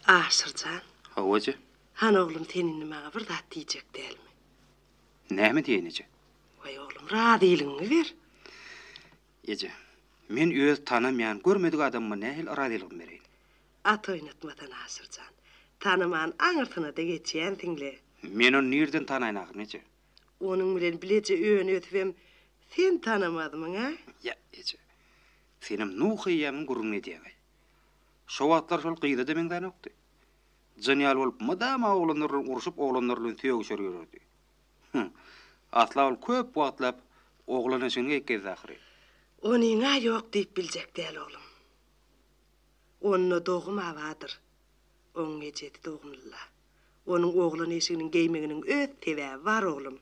Aşyrjan. Hawa eje. Han oglum sen indi maňa bir zat diýjek dälmi? Näme diýeýin eje? Waý oglum razylygyňy ber. Eje, men öz tanamaýan, görmedik adamyma nähili razylygymy bereýin? At oýnatmasan Aşyrjan. Tanaman aňyrsyna-da geçýänsiň le. Men ony nirden tanaýyn ahyryn eje? Onuň bilen bileje öňösibem sen tanamazmyň-a? Ýa eje. Senem Nuh eýýämiň gürrüňini edýäň-aý. Şo wagtlar şol gyza-da meňzänokdy. Jyn ýaly bolup mydama oglanlar bilen urşup, oglanlar bilen sögüşer ýörerdi. Hym, asla ol köp wagtlap oglan eşigini geýip gezdi ahyry. Onyň-a ýok diýip biljek däl oglum. Onda dogum abadyr. Onuň ejesi dogumly-la. Onuň oglan eşiginiň geýmeginiň öz sebäbi bar, oglum.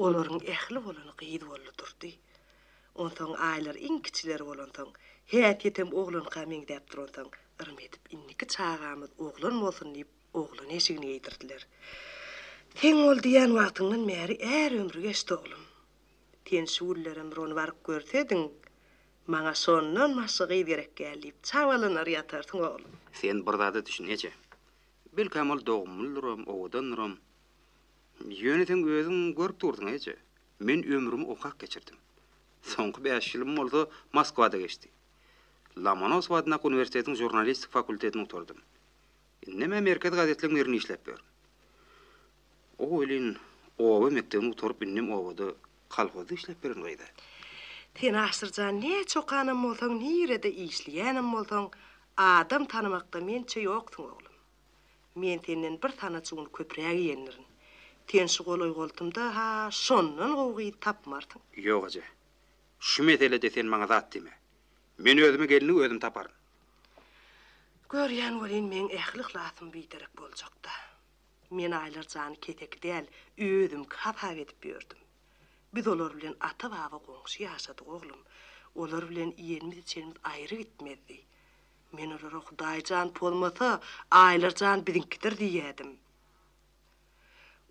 Olaryň ähli bolany gyz boldy durdy. Onsoň Aýlar iň kiçileri bolansoň, häsiýetem oglanka meňzäp duransoň, yrym edip indiki çagamyz oglan bolsun diýip, oglan eşigini geýdirdiler. Seň ol diýýän wagtyňdan bäri är ömri geçdi, oglum. Sen şu günlerem bir ony baryp görsediň, Maňa şondan başga gyz gerek däl diýip, çabalanar ýatarsyň, oglum. Sen bir zada düşün, eje. Belkäm ol dogumlydyram, owadandyram. Ýöne seň özüň görüp durdyň eje, men ömrümi okap geçirdim. Soňky bäş ýylym bolsa Moskwada geçdi. Lomonosow adyndaky uniwersitetiň žurnalistika fakultetini gutardym. Indem-ä merkezi gazetleň birinde işläp ýörün. O welin, oba mekdebini gutaryp indem obada kolhozda işläp beren gyz-a. Sen Aşyrjan näçe okanam bolsaň, nirede işleýänem bolsaň, adam tanamakda mençe ýoksuň oglum. Men senden bir sanaçy gün köpräk iýendirin. Sen şu golaý-goltumda-ha şondan gowy gyz tapmarsyň. Ýok eje. Şu meselede sen maňa zat diýme. Men özüme gelni özüm taparyn. Görýän welin, meň ähli yhlasym biderek boljak-da. Men Aýlar jany keseki däl, özümki hasap edip ýördüm. Biz olar bilen ata-baba goňşy ýaşadyk, oglum. Olar bilen iýenimiz-içenimiz aýry gitmezdi. Men olara Hudaý jan pozmasa, Aýlar jan biziňkidir diýýädim.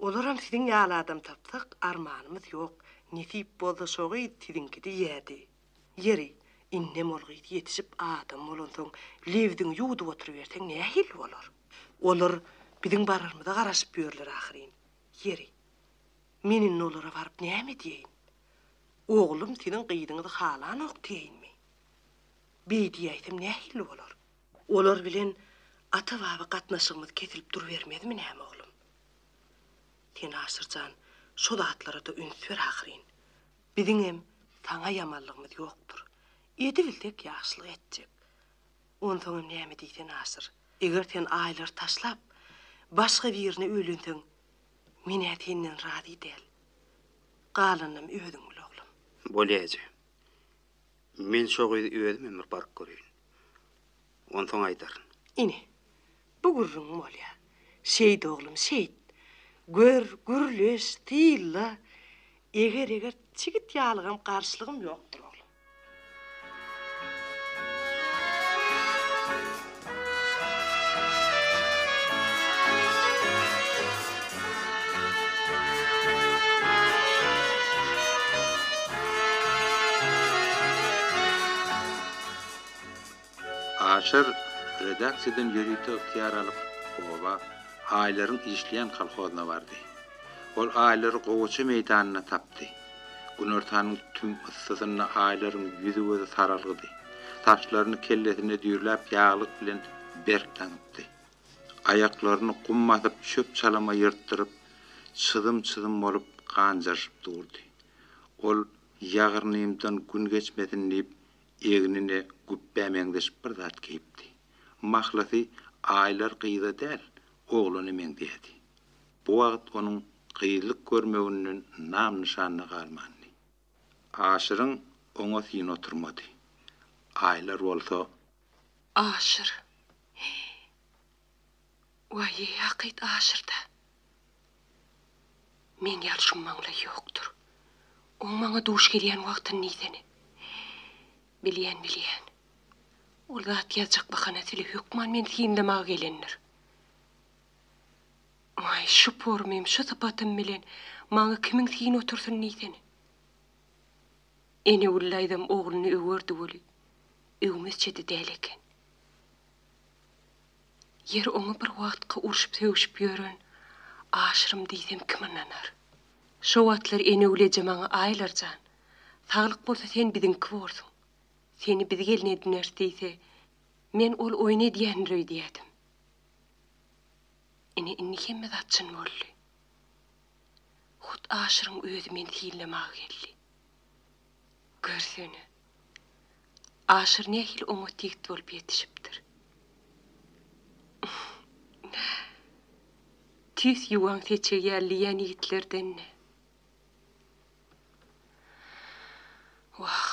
Olaram siziň ýaly adam tapsak, armanymyz ýok, nesip bolsa şo gyz siziňki diýýädi. Ýeri, indem ol gyz ýetişip adam bolansoň, lebziňi ýuwdup oturyberseň nähili bolar? Olar biziň bararymyza garaşyp ýörler ahyryn. Ýeri, men indi olara baryp näme diýeýin? Oglum siziň gyzyňyzy halanok diýeýinmi? Beý diýäýsem nähili bolar? Olar bilen ata-baba gatnaşygymyz kesilip durubermezmi näme oglum? Sen Aşyrjan, şo zatlara-da üns ber ahyryn. Biziňem saňa ýamanlygymyz ýokdur. Edibilsek ýagşylyk etjek. Onsoňam näme diýsen aşyr. Eger sen Aýlary taşlap, başga birine öýlenseň, men-ä senden razy däl. Galanynam özüň bil, oglum. Bolýa eje. Men şo gyzy özümem bir baryp göreýin. Onsoň aýdaryn. Ine, bu gürrüňim bolýar. Şeýt, oglum, şeýt. Gör, gürleş, tylla. Eger-eger çigit ýalygam garşylygym ýokdur, oglum. Aşyr redaksiýadan ýörite ygtyýar alyp, oba, Aýlaryň işleýän kolhozyna bardy. Ol Aýlary gowaça meýdanynda tapdy. Günortanyň tüm yssysynda Aýlaryň ýüzi-gözi saralgydy. Saçlaryny kellesinde düýrläp ýaglyk bilen berk daňypdy. Aýaklaryny gum basyp çöp-çalama ýyrtdyryp, çyzym-çyzym bolup ganjaryşyp durdy. Ol ýagyrnymdan gün geçmesin diýip, Egnine güpbä meňzeş bir zat geýipdi. Mahlasy Aýlar gyza däl, oglana meňzeýärdi. Bu wagt onuň gyzlyk görmeginden nam-nyşan-da galmandy. Aşyryň oňa syny oturmady. Aýlar bolsa. Aşyr, he, Waýý, hakyt aşyrda. Meň ýaly şummaňlaý ýokdur. Oň maňa duş gelýän wagtyny diýsene. Bilýän, bilýän. Ol zat ýazjak bahanasyle hökman meni synlamaga gelendir. Waý, şu pormym, şu sypatym bilen maňa kimiň syn otursyn diýsene. Enewül daýzam ogluny öwerdi weli, öwmezçe-de däl eken. Ýeri oňa bir wagtky urşup-sögüşip ýören Aşyrym diýsem kim ynanar. Şo wagtlar Enewleje maňa Aýlar jan, saglyk bolsa sen biziňki borsuň. Seni biz gelin edineris diýse, men ol oýun edýändir öýdýädim. Ine indi hemme zat çyn boldy. Hut Aşyryň özi meni synlamaga geldi. Görsene. Aşyr nähili oňat ýigit bolup ýetişipdir. Tüýs ýuwan seçeg ýaly diýýän ýigitlerden-dä. Wah,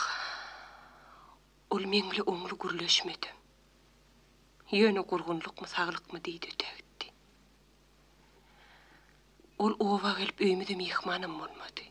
ol meňle oňly gürleşmedem. Ýöne gurgunlykmy, saglykmy diýdi, degtdi. Ol oba gelip öýümize myhmanam bolmady.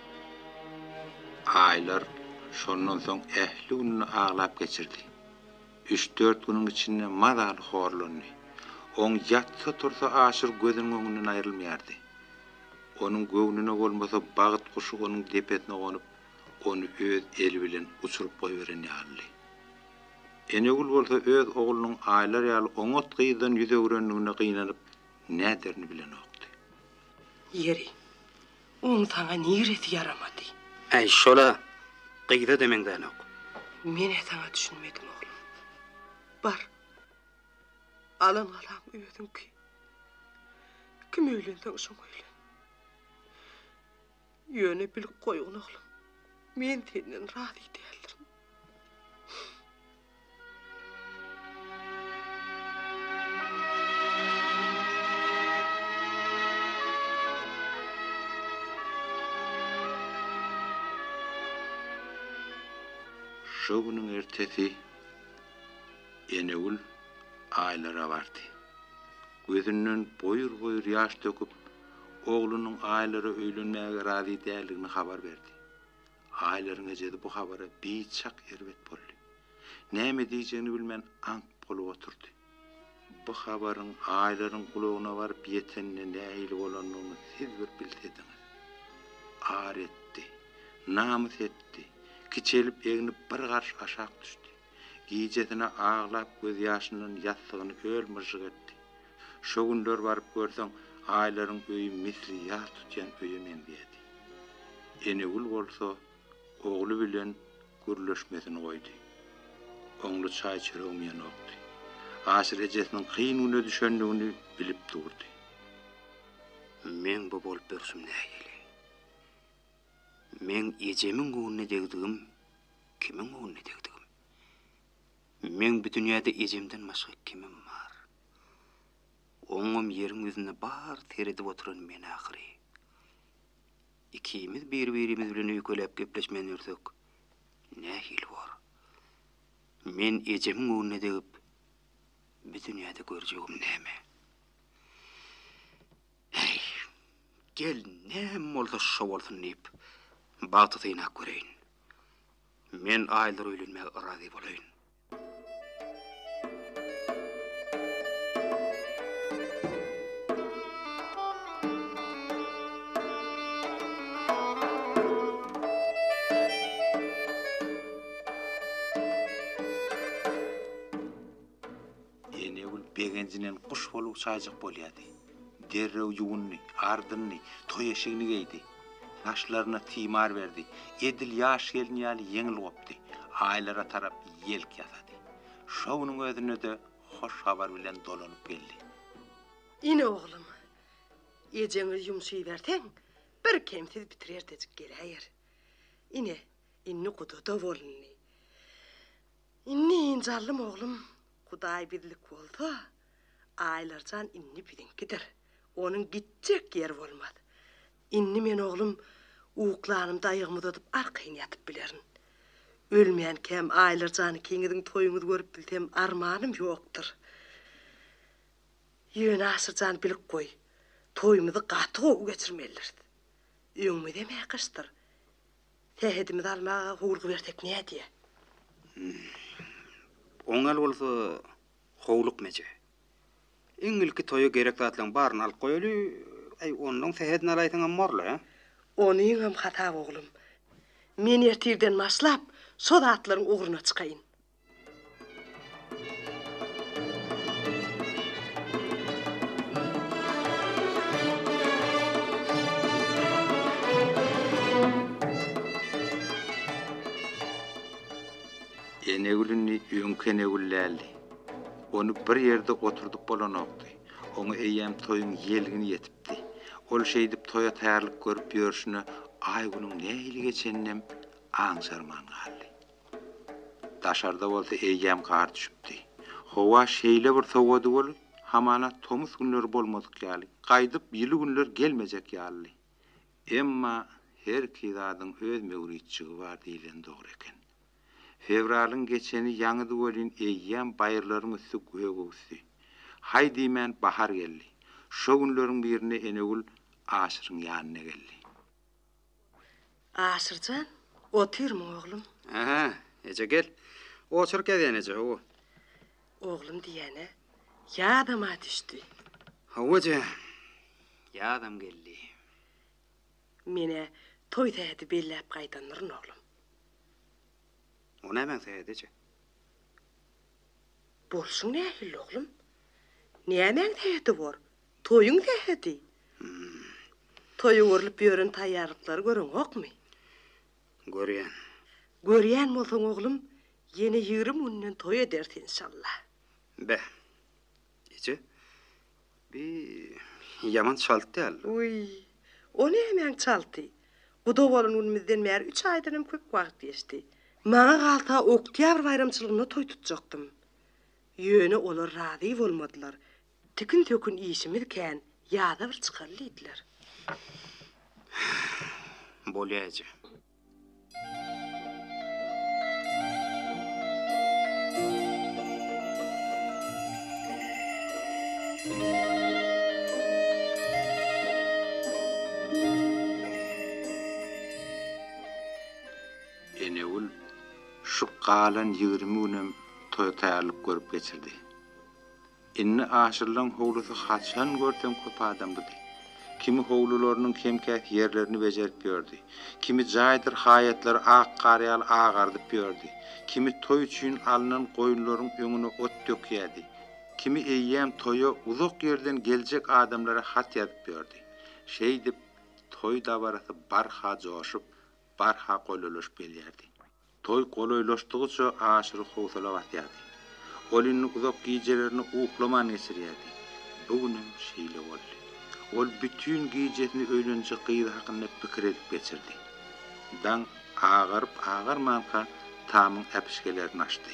Aýlar şondan soň ähli gününi aglap geçirdi. Üç-dört günüň içinde mazaly horlandy. Oň ýatsa-tursa Aşyr gözüniň öňünden aýrylmaýardy. Onuň göwnüne bolmasa bagt guşy onuň depesine gonup, ony öz eli bilen uçuryp goýberen ýalydy. Enegül bolsa öz oglunyň Aýlar ýaly oňat gyzdan ýüz öwrendigine gynanyp, näderini bilenokdy. Ýeri, Oň saňa niresi ýaramady? Äý, şol-a! Gyza-da meňzänok. Men-ä saňa düşünmedim, oglum. Bar, alan galaň özüňki. Kim öýlenseň şoň öýlen. Ýöne bilip goýgun, oglum, men senden razy däldirin. Şo günüň ertesi Enegül Aýlara bardy. Gözünden boýur-boýur ýaş döküp, oglunyň Aýlara öýlenmäge razy däldigini habar berdi. Aýlaryň ejesi bu habara biçak erbet boldy. Näme diýjegini bilmän aňk bolup oturdy. Bu habaryň Aýlaryň gulagyna baryp ýetenine nähili bolandygyny siz bir bilsediňiz. Ar etdi. Namys etdi. Kiçelip-egnip bir garş aşak düşdi. Gijesine aglap gözýaşyndan ýassygyny öl-myžžyk etdi. Şo günler baryp görseň Aýlaryň öýi misli ýas tutýan öýe meňzeýärdi. Enegül bolsa ogly bilen gürleşmesini goýdy. Oňly çaý-çöregem ýenokdy. Aşyr ejesiniň kyn güne düşendigini bilip durdy. Meň bu bolup durşum nähili? Meň ejemiň göwnüne degdigim, kimiň göwnüne degdigim? Meň bu dünýäde ejemden başga kimim bar? Oňam ýeriň ýüzüne bar seredip oturan men ahyry. Ikimiz bir-birimiz bilen öýkeläp gepleşmän ýörsek, nähili bor? Men ejemiň göwnüne degip, bu dünýäde görjegim näme? Äý, gel, näme bolsa şo bolsun diýip, bagty synap göreýin. Men aýlar öýlenmäge razy bolaýyn. Enegül begenjinen guş bolup uçajak bolýardy. Derrew ýuwundy, ardyndy, toý eşigini geýdi. Naşlaryna timar berdi. Edil ýaş gelin ýaly ýeňil gopdy. Aýlara tarap ýelk ýasady. Şo günüň özünde-de hoş habar bilen dolanyp geldi. Ine oglum, ejeňe ýumşyberseň, birkemsiz bitirertejik geläýer. Ine, indi guda-da bolundy. Indi Jallym oglum Hudaý bizlik bolsa, Aýlarjan indi biziňkidir. Onuň gitjek ýeri bolmaz. Indi men oglum uklanymda aýagymy uzadyp arkaýyn ýatyp bilerin. Ölmänkäm Aýlarjan ikiňiziň toýuňyzy görüp bilsem armanym ýokdur. Ýöne Aşyrjan bilip goý, toýumyzy gaty gowy geçirmelidiris. Öňümizem äkiçdir. Sähedimizi almaga howulgy bersek nädýä? Oňal bolsa, howlukma eje. Iň ilki toýa gerek zatlaryň baryny alyp goýaly, äý, onnoň sähedini alaýsaňam borla. Onuňam hasaby, oglum. Men ertirden başlap, şo zatlaryň ugruna çykaýyn. Enegül indi öňki Enegül däldi. Ony bir ýerde oturdyp bolanokdy. Oňa eýýäm toýuň ýelgini ýetipdi. Ol şeýdip toýa taýýarlyk görüp ýörşüne Aýgülüň nähili geçeninem aňşarman galdy. Daşarda bolsa eýýäm gar düşüpdi. Howa şeýle bir sowady bolup, hamana tomus günleri bolmadyk ýaly, gaýdyp ýyly günler gelmejek ýalydy. Emma herki zadyň öz möwritjigi bar diýleni dogry eken. Fewralyň geçeni ýaňydy welin eýýäm baýyrlaryň üsti gögöwüsdi. Haý diýmän bahar geldi. Şo günleriň birinde Enegül Aşyryň ýanyna geldi. Aşyrjan, otyrmy, oglum? Hä-hä, eje, gel. Otur, Kezen eje, hawa. Oglum diýýän-ä, ýadam-a düşdi. Hawa, eje, ýadam geldi. Men-ä toý sähedi belläp gaýdandyryn, oglum. O nämäň sähedi, eje? Bolşuň nähilli, oglum? Nämäň sähedi bor? Toýuň sähedi. Toýa görlüp ýören taýýarlyklary göreňokmy? Görýän. Görýän bolsaň, oglum, ýene ýigrimi günden toý ederis, enşalla. Be. Eje, bi ýaman çalt däl? Wiý, o nämäň çalty? Guda bolan günümizden bäri üç aýdan hem köp wagt geçdi. Maňa galsa, oktýabr baýramçylygynda toý tutjakdym. Ýöne olar razy bolmadylar. Tikin-sökün işimiz kän, ýaza bir çykaly diýdiler. Bolýa eje. Enegül şu galan ýigrimi günem toý taýýarlyk görüp geçirdi. Indi aşyrylan howlusy haçan görseň köp adamlydy. Kimi howlularynyň kem-käs ýerlerini bejerip ýördi. Kimi jaýdyr haýatlary ak gar ýaly agardyp ýördi. Kimi toý üçin alnan goýunlaryň öňüne ot dökýärdi. Kimi eýýäm toýa uzak ýerden geljek adamlara hat ýazyp ýördi. Şeýdip, toý dabarasy barha joşup, barha golalaşyp gelýärdi. Toý golaýlaşdygyça Aşyry howsala basýardy. Ol indi uzak gijelerini uklaman geçirýärdi. Bu gün hem şeýle boldy. Ol bütin gijesini öýlenjek gyzy hakynda pikir edip geçirdi. Daň agaryp-agarmanka tamyň äpişgelerini açdy.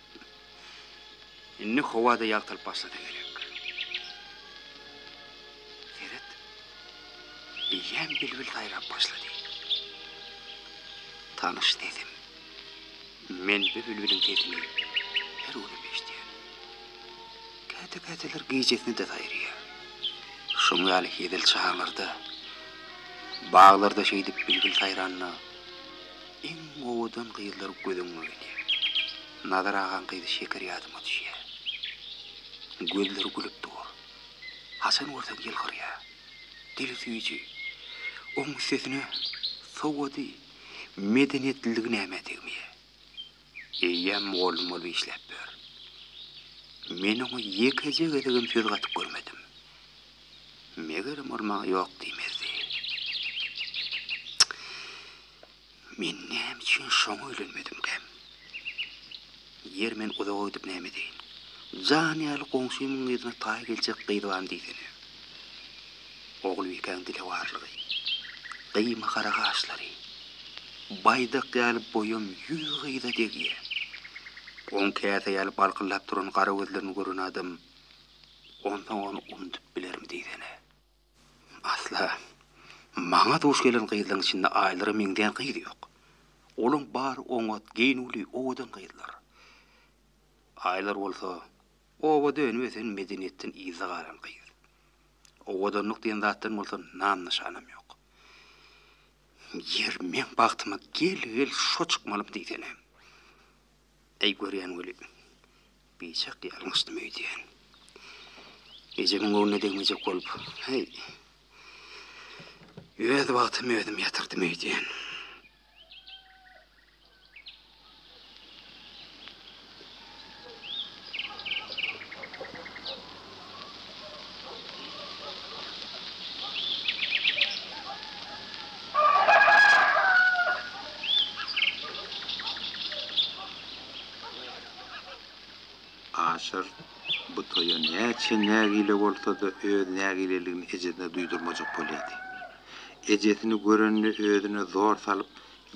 Indi howa-da ýagtylyp başlasa gerek. Seret, eýýäm bilbil saýrap başlady. Tanyş sesim. Men bu bilbiliň sesini her günem eşidýän. Käte-käteler gijesine-de saýraýar. Şoň ýaly hezil çaglarda, baglarda şeýdip bilbil saýranda, Iň owadan gyzlar göz öňüme gelýär. Nazar agaň gyzy Şeker ýadyma düşýär. Gözleri gülüp dur. Haçan görsek ýylgyrýar. Dili süýji. Oň üstesine sowady, medeniýetliligi nämä degmeýär. Eýýäm mugallym bolup işläp ýör. Men oňa ýekeje gezegem söz gatyp görmedim. Megerem ol maňa ýok diýmezdi. Men näme üçin şoňa öýlenmedimkäm? Ýeri men uzaga gidip näme edeýin? Jan ýaly goňşymyň yzyna taý geljek gyz bam diýsene. Ogulbikäň dilewarlygy, gyýma gara gaşlary baýdak ýaly boýam ýüz gyza degýär. Oň käse ýaly balkyldap duran gara gözlerini gören adam onsoň ony unudyp bilermi diýsene. Asla, maňa duş gelen gyzlaryň içinde Aýlara meňzeýän gyz ýok. Olaň bary oňat, geýnüwli, owadan gyzlar. Aýlar bolsa Obada önüp-ösen medeniýetden yza galan gyz. Owadanlyk diýen zatdan bolsa nam-nyşanam ýok. Ýer, meň bagtyma gel-gel şo çykmalymy diýsene. Äý görýän weli, biçak ýalňyşdym öýdýän. Ejemiň göwnüne degmejek bolup, häý, öz bagtymy özüm ýatyrdym öýdýän. Aşyr bu toýa näçe nägile bolsa-da öz nägileligini ejesine duýdurmajak bolýardy. ejesini görende özüne zor salyp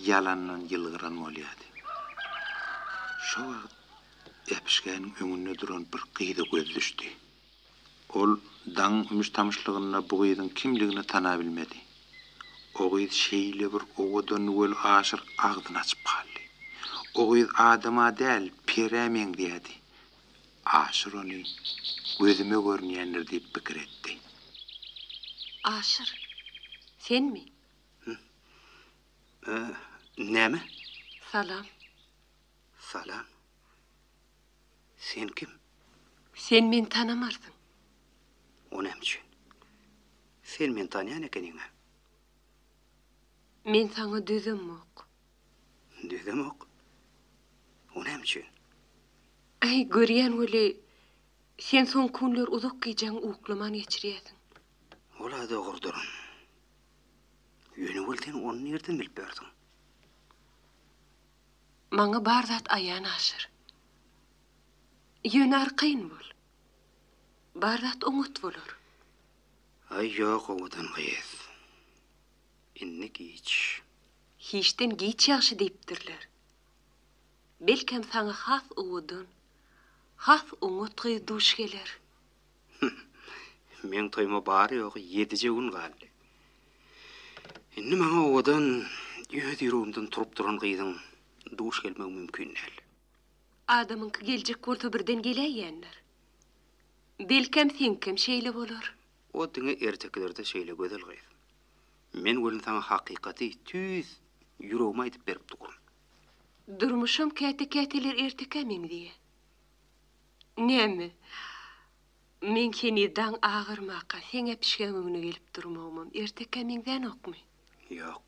ýalandan ýylgyran bolýardy. Şo wagt äpişgäniň öňünde duran bir gyza göz düşdi. Ol daň ümüş-tamyşlygynda bu gyzyň kimligini tanabilmedi. O gyz şeýle bir owadandy weli aşyr agzyny açyp galdy. O gyz adama däl, perä meňzeýärdi. Aşyr ony gözüme görünýändir diýip pikir etdi. Aşyr, senmi? Hä, näme? Salam. Salam. Sen kim? Sen meni tanamarsyň. O näme üçin? Sen meni tanýan ekeniň-ä. Men saňa düzemok. Düzemok. O näme üçin? Äý, görýän weli, sen soňky günler uzak gijäňi uklaman geçirýärsiň. Ol-a dogrudyr. Ýöne weli sen ony nirden bilip ýörsüň? Maňa bar zat aýan Aşyr. Ýöne arkaýyn bol. Bar zat oňat bolar. Aý, ýok owadan gyz. Indi giç. Hiçden giç ýagşy diýipdirler. Belkem saňa has owadan, has oňat gyz duş geler. Hüh. Meň toýuma bary-ýogy ýedije gün galdy. Indi maňa owadan, öz ýüregimden turup duran gyzyň duş gelmegi mümkin däl. Adamyňky geljek bolsa birden geläýendir. Belkem seňkem şeýle bolar. O diňe ertekilerde şeýle gözel gyz. Men welin saňa hakykaty tüýs ýüregimi aýdyp berip durun. Durmuşam käte-käteler ertekä meňzeýä. Näme, men heniz daň agyrmaka seň äpişgäň öňüne gelip durmagymam ertekä meňzänokmy? Ýok.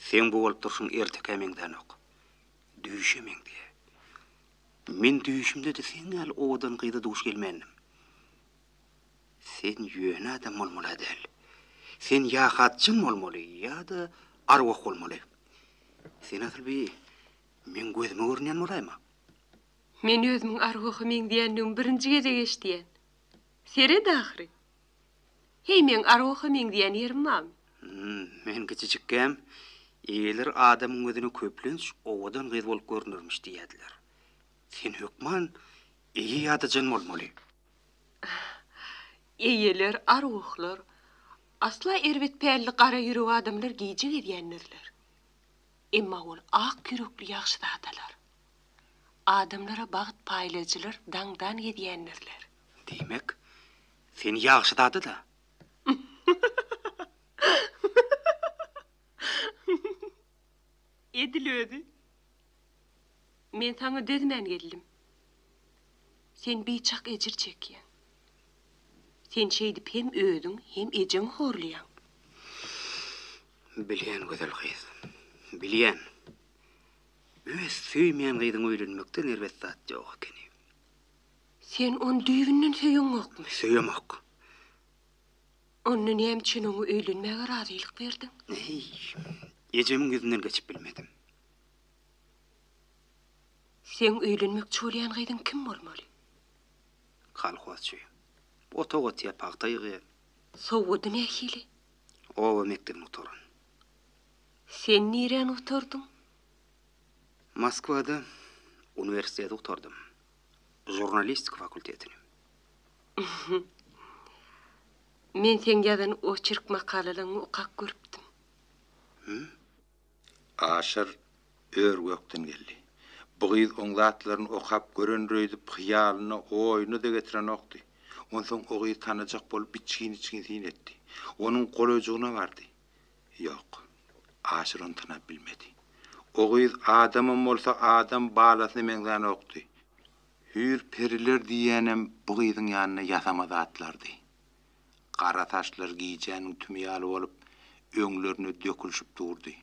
Seň bu bolup durşuň ertekä meňzänok. Düýşe meňzeýär. Men düýşümde-de seň ýaly owadan gyza duş gelmändim. Sen ýöne adam bolmaly-a däl. Sen ýa hatjyn bolmaly, ýa-da arwah bolmaly. Sen asyl bi meň gözüme görünýän bolaýma. Men özümiň arwaha meňzeýändigimi birinji gezek eşidýän. Seret ahyry. Heý, meň arwaha meňzeýän ýerim barmy? Hum, men kiçijikkäm, eýeler adamyň gözüne köplenç owadan gyz bolup görünermiş diýýärdiler. Sen hökman eýe ýa-da jyn bolmaly. Eýeler, arwahlar, asla erbet pälli gara ýürek adamlar gije gezýändirler. Emma ol ak ýürekli ýagşyzadalar, adamlara bagt paýlaýjylar daňdan gezýändirler. Diýmek, sen ýagşyzada-da? Edil özi. Men saňa dözmän geldim. Sen biçak ejir çekýäň. Sen şeýdip hem özüň, hem ejeňi horlaýaň. Bilýän, gözel gyz. Bilýän. Öz söýmeýän gyzyňa öýlenmekden erbet zat ýok ekeni. Sen ony düýbünden söýeňokmy? Söýemok. Onda näme üçin oňa öýlenmäge razylyk berdiň? Eý, ejemiň ýüzünden geçip bilmedim. Seň öýlenmekçi bolýan gyzyň kim bolmaly? Kolhozçy. Otag otýar, pagta ýygýar. Sowady nähili? Oba mekdebini gutaran. Sen niräni gutardyň? Moskwada uniwersiteti gutardym. Žurnalistika fakultetini. Men seň ýazan oçerk makalalaňy okap görüpdim. Hü? Aşyr ör-gökden geldi. Bu gyz oň zatlaryny okap görendir öýdüp, hyýalyna, oýuna-da getirenokdy. Onsoň o gyzy tanajak bolup içgin-içgin syn etdi. Onuň golaýjygyna bardy. Ýok. Aşyr ony tanap bilmedi. O gyz adamam bolsa adam balasyna meňzänokdy. Hüýr-periler diýýänem bu gyzyň ýanynda ýasama zatlardy. Gara saçlary gijäniň tümi ýaly bolup, öňlerine dökülişip durdy.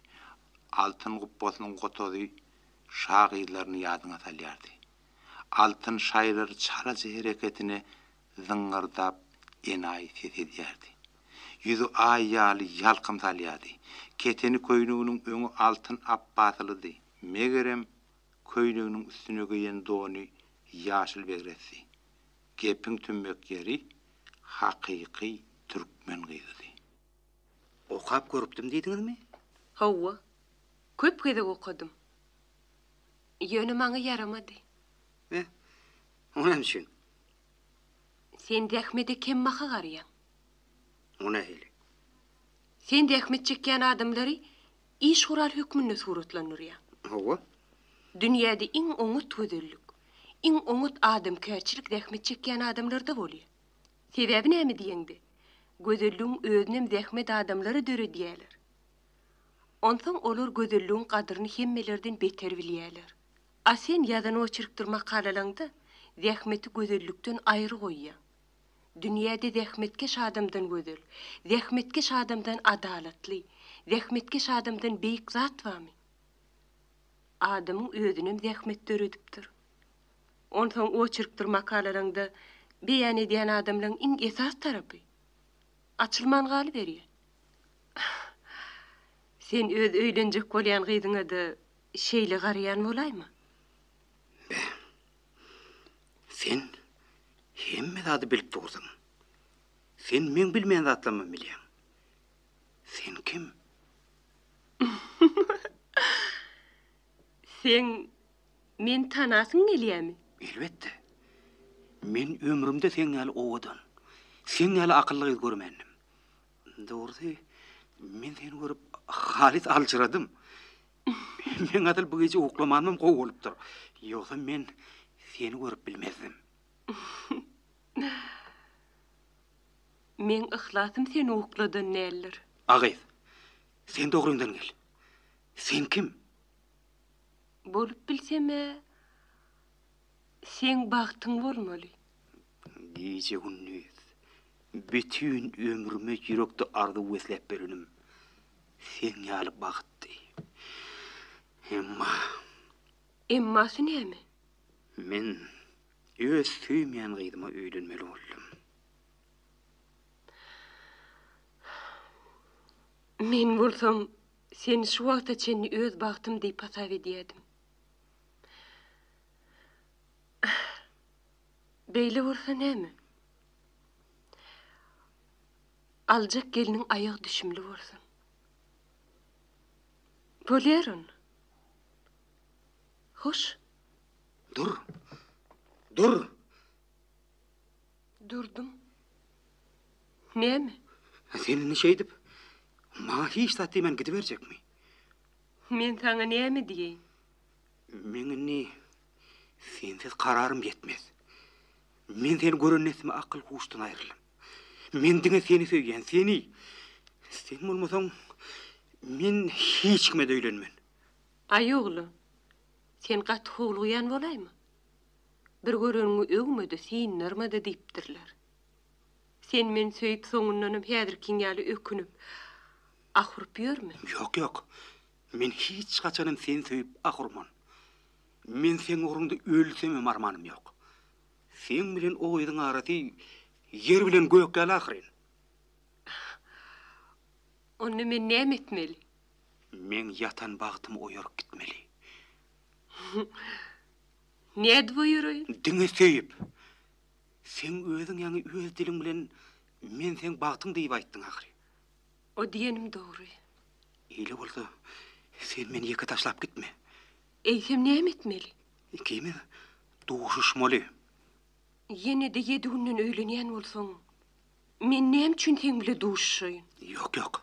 Altyn gupbasynyň gotazy şa gyzlaryny ýadyňa salýardy. Altyn şaýylary çalaja hereketine zyňňyrdap enaýy ses edýärdi. Ýüzi aý ýaly ýalkym salýardy. Keteni köýneginiň öňi altyn apbasylydy, megerem, köýneginiň üstüne geýen dony ýaşyl begresdi. Gepiň tümmek ýeri hakyky türkmen gyzydy. Okap görüpdim diýdiňizmi? Hawa. Köp gezek okadym. Ýöne maňa ýaramady. Heh. O näme üçin? Sen zähmede kembaha garýaň. O nähili? Sen zähmet çekýän adamlary Iş gural hökmünde suratlandyrýar. Hawa. Dünýäde iň oňat gözellik, iň oňat adamkärçilik zähmet çekýän adamlarda bolýar. Sebäbi näme diýeňde, gözelligiň özünem zähmet adamlary döredýärler. Onsoň olar gözelligiň gadyryny hemmelerden beter bilýärler. A sen ýazan oçerkdir makalalaňda zähmeti gözellikden aýry goýýaň. Dünýäde zähmetkeş adamdan gözel, zähmetkeş adamdan adalatly, zähmetkeş adamdan beýik zat barmy? Adamyň özünem zähmet döredipdir. Onsoň oçerkdir makalalaryňda beýan edýän adamlaryň iň esas tarapy açylman galyberýär. Sen öz öýlenjek bolýan gyzyňa-da şeýle garaýan bolaýma? Bäh, Sen hemme zady bilip dursaň, sen meň bilmeýän zatlarymy bilýäň. Sen kim? Sen meni tanasyň gelýämi? Elbetde. Men ömrümde seň ýaly owadan, seň ýaly akylly gyz görmändim. Dogrusy, men seni görüp halys aljyradym. Men asyl bu gije uklamanym gowy bolupdyr. Ýogsam men seni görüp bilmezdim. Meň yhlasym seni ukladan däldir. A gyz, sen dogryňdan gel. Sen kim? Bolup bilsem-ä, Seň bagtyň bolmaly. Gije-gündiz, bütin ömrüme ýürekde arzuw besläp berenim seň ýaly bagtdy. Emma. Emmasy näme? Men öz söýmeýän gyzyma öýlenmeli boldum. Men bolsam, seni şu wagta çenli öz bagtym diýip hasap edýädim. Beýle bolsa näme? Aljak gelniň aýagy düşümli bolsun. Bolýar onda. Hoş. Dur. Dur. Durdum. Näme? Sen indi şeýdip, maňa hiç zat diýmän gidiberjekmi? Men saňa näme diýeýin? Meň indi sensiz kararym ýetmez. Men seni gören nesime akyl-huşdan aýryldym. Men diňe seni söýýän, seni! Sen bolmasaň, men hiç kime-de öýlenmen. Aý oglan, sen gaty howlugýan bolaýma? Bir göreniňi öwme-de, syndarma-da diýipdirler. Sen meni söýüp soňundanam häzirkiň ýaly ökünip, ah urup ýörmü? Ýok ýok. Men hiç haçanam seni söýüp ah urman. Men seň ugrunda ölsemem armanym ýok. Seň bilen o gyzyň arasy ýer bilen gök ýaly ahyryn. Onda men näme etmeli? Meň ýatan bagtymy oýaryp gitmeli. Nädip oýaraýyn? Diňe söýüp. Seň özüň ýaňy öz diliň bilen men seň bagtyň diýip aýtdyň ahyry. O diýenim dogry. Eýle bolsa, sen meni ýeke taşlap gitme. Eýsem näme etmeli? Ikimiz duşuşmaly. Ýene-de ýedi günden öýlenýän bolsaň, men näme üçin seň bile duşuşaýyn? Ýok, ýok.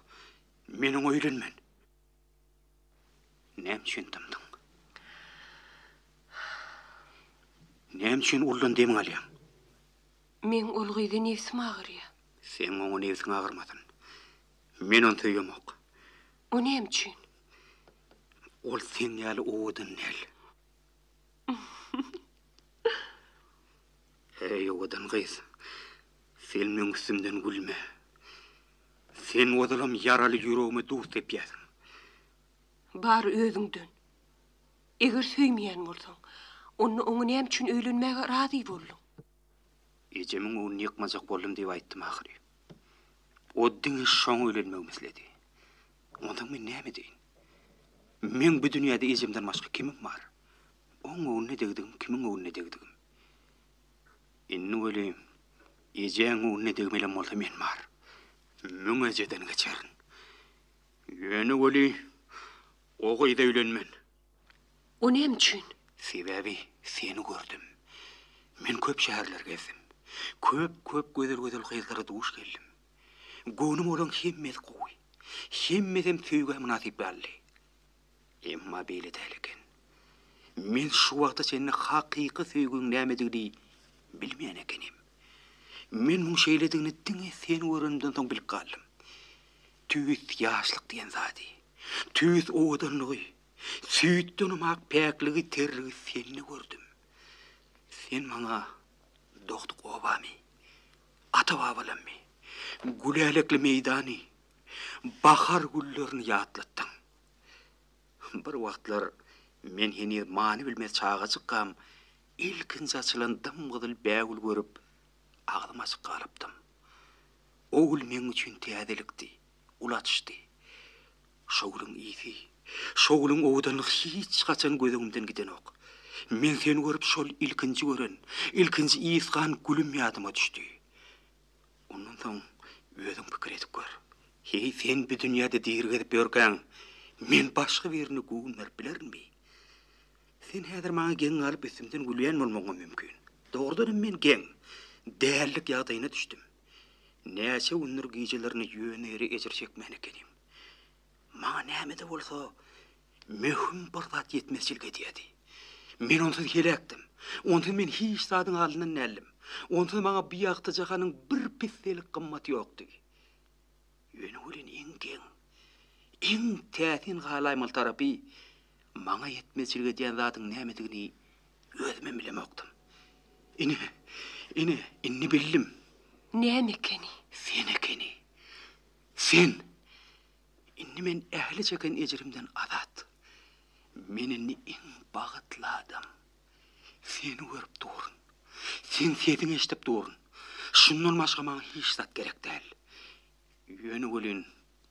Men oňa öýlenmen. Näme üçin dymdyň? Näme üçin uldan demiňi alýaň? Meň ol gyza nebsim agyrýar. Seň oňa nebsiň agyrmasyn. Men ony söýemok. O näme üçin? Ol seň ýaly owadan däl. Heý, owadan gyz, sen meň üstümden gülme. Sen ozalam ýaraly ýüregime duz sepýärsiň. Bary özüňden. Eger söýmeýän bolsaň, onda oňa näme üçin öýlenmäge razy bolduň? Ejemiň öňüni ýykmajak boldum diýip aýtdym ahyry. O diňe şoňa öýlenmegimi isledi. Onsoň men näme edeýin? Meň bu dünýäde ejemden başga kimim bar? Oň öňüne degdigim, kimiň öňüne degdigim? Indi welin, ejäň öňünde degmelem bolsa men bar. Müň ejeden geçerin. Ýöne welin, o gyza öýlenmen. O näme üçin? Sebäbi seni gördüm. Men köp şäherler gezdim. Köp-köp gözel-gözel gyzlara duş geldim. Göwnüme olaň hemmesi gowy. Hemmesem söýgä mynasyp ýaly. Emma beýle däl eken. Men şu wagta çenli hakyky söýgiň nämedigini bilmeýän ekenim. Men muň şeýledigini diňe seni görenimden soň bilip galdym. Tüýs ýaşlyk diýen zady, tüýs owadanlygy, süýtdenem ak päkligi, terrigi sende gördüm. Sen maňa dogduk obamy, ata-babalammy, gülälekli meýdany, bahar güllerini ýatlatdyň. Bir wagtlar men heniz many bilmez çagajykkam, ilkinji açylan dym-gyzyl bägül görüp, agzym açyk galypdym. O gül meň üçin täzelikdi, ulatyşdy. Şo gülüň ysy, şo gülüň owadanlygy hiç haçan göz öňümden gidenok. Men seni görüp şol ilkinji gören, ilkinji ysgan gülüm ýadyma düşdi. Ondan soň özüň pikir edip gör. Heý, sen bu dünýäde diri gezip ýörkäň, men başga birine göwün berip bilerinmi? Sen häzir maňa geň galyp üstümden gülýän bolmagyňam mümkin. Dogrudan hem men geň, dällik ýagdaýyna düşdüm. Näçe gündür gijelerini ýöne ýere ejir çekmän ekenim. Maňa näme-de bolsa möhüm bir zat ýetmezçilik edýärdi. Men onsuz heläkdim. Onsuz men hiç zadyň alyndan däldim. Onsuz maňa bu ýagty jahanyň bir pisselik gymmaty ýokdy. Ýöne welin iň geň, iň täsin galaýmaly tarapy, maňa ýetmezçilik edýän zadyň nämedigini özümem bilemokdym. Ine, ine, indi bildim. Näme ekeni? Sen ekeni. Sen, Indi men ähli çeken ejrimden azat. Men indi iň bagtly adam. Seni görüp durun. Seň sesiňi eşidip durun. Şundan başga maňa hiç zat gerek däl. Ýöne welin,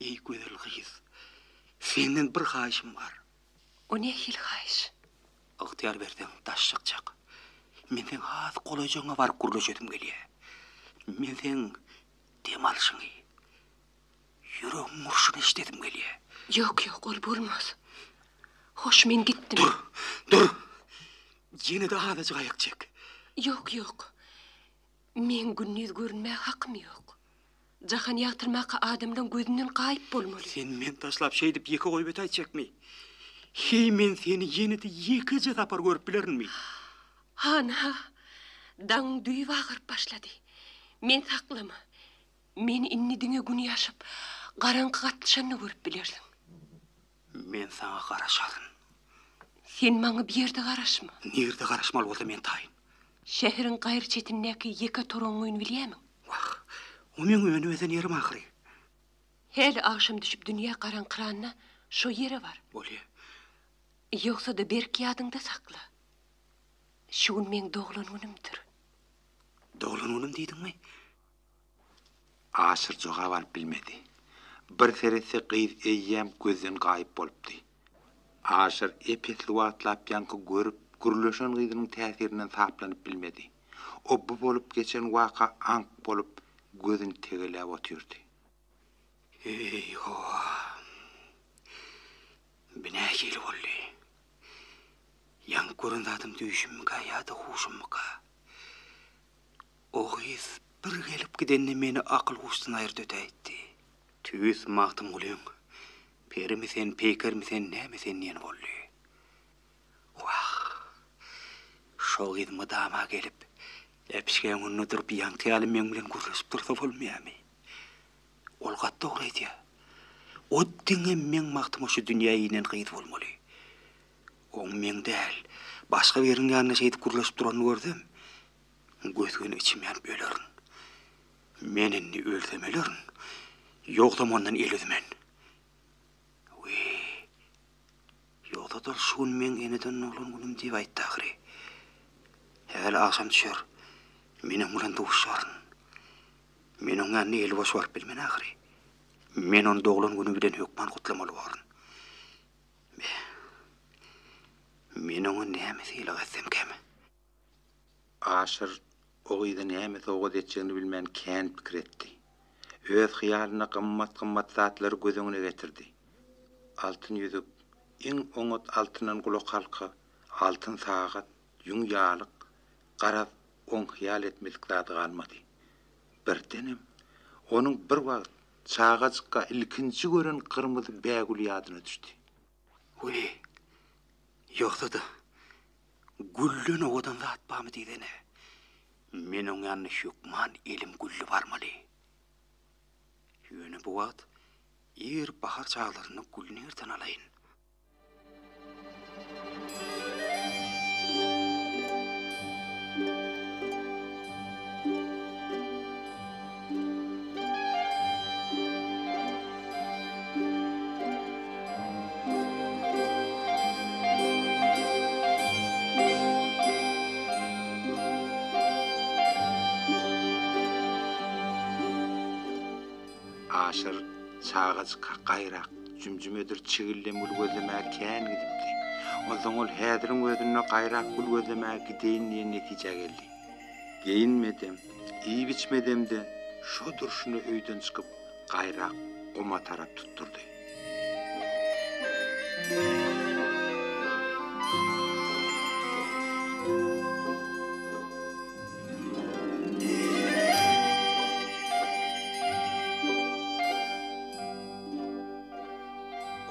eý gözel gyz, senden bir haýyşym bar. O nähili haýyş? Ygtyýar berseň, daş çykjak. Men seň has golaýjagyňa baryp gürleşesim gelýär. Men seň Dem alşyňy. Ýüregiň urşuny eşidesim gelýär. Ýok, ýok, ol bolmaz. Hoş, men gitdim. Dur, dur. Ýene-de azajyk aýak çek. Ýok, ýok. Meň gündiz görünmäge hakym ýok. Jahan ýagtyrmaka adamlaň gözünden gaýyp bolmaly. Sen meni taşlap şeýdip ýeke goýup ötäýjekmi? Heý, men seni ýene-de ýekeje sapar görüp bilerinmi? Hana, daň düýbi agyryp başlady. Men saklama. Men indi diňe gün ýaşyp, garaňky gatlyşanda görüp bilersiň. Men saňa garaşaryn. Sen maňa bir ýerde garaşma. Nirde garaşmaly bolsa men taýyn. Şäheriň gaýry çetindäki ýeke toragyň öýüni bilýämiň? Wah, o meň öýüni bezen ýerim ahyry. Häli agşam düşüp dünýä garaňkyranda şo ýere bar. Bolýa. Ýogsa-da berk ýadyňda sakla. Şu gün meň doglan günümdir. Doglan günüm diýdiňmi? Aşyr jogap alyp bilmedi. Bir seretse gyz eýýäm gözden gaýyp bolupdy. Aşyr ep-esli wagtlap ýaňky görüp, gürleşen gyzynyň täsirinden saplanyp bilmedi. O bu bolup geçen waka aňk bolup, gözüni tegeläp otyrdy. Eý, howa! Bu nähili boldy? Ýaňky gören zadym düýşümmikä ýa-da huşummyka? O gyz bir gelip gidende meni akyl-huşdan aýyrdy ötäýtdi. Tüýs Magtymgulyň, Perimi sen, peýkermi sen, näme sen diýeni boldy. Wah! Şo gyz mydama gelip, äpişgäň öňünde durup ýaňky ýaly meň bilen gürleşip dursa bolmaýamy? Ol gaty dogry aýdýar. O diňe meň bagtyma şu dünýä inen gyz bolmaly. Oň meň däl, başga biriniň ýanynda şeýdip gürleşip duranyny görsem, gös-göni içim ýanyp ölerin. Men indi ölsem ölerin, ýogsam ondan el üzmen. Wiý, Ýogsa-da ol şu gün meň eneden doglan günüm diýip aýtdy ahyry. Häli agşam düşer, men oň bilen duşaryn. Men oň ýanyna eli boş baryp bilmen ahyry. Men ony doglan güni bilen hökman gutlamaly borun. Beh, men oňa näme sylag etsemkäm? Aşyr o gyza näme sowgat etjegini bilmän kän pikir etdi. Öz hyýalynda gymmat-gymmat zatlary göz öňüne getirdi. Altyn ýüzük, iň oňat altyndan gulakhalka, altyn sagat, ýüň ýalyk, garaz, oň hyýal etmedik zady galmady. Birdenem, onuň bir wagt çagajykka ilkinji gören gyrmyzy bägüli ýadyna düşdi. Weý, ýogsa-da, Gülden owadan zat barmy diýsene. Men oň ýanyna hökman elim gülli barmaly. Ýöne bu wagt ir bahar çaglarynda gül nirden alaýyn? Aşyr çagajyka gaýrak jümjümedir çigildem gül gözlemäge kän gidipdi. Onsoň ol häziriň özünde gaýrak gül gözlemäge gideýin diýen netijä geldi. Geýinmedem, iýip-içmedem-de, şo durşuna öýden çykyp, gaýrak guma tarap tutdurdy.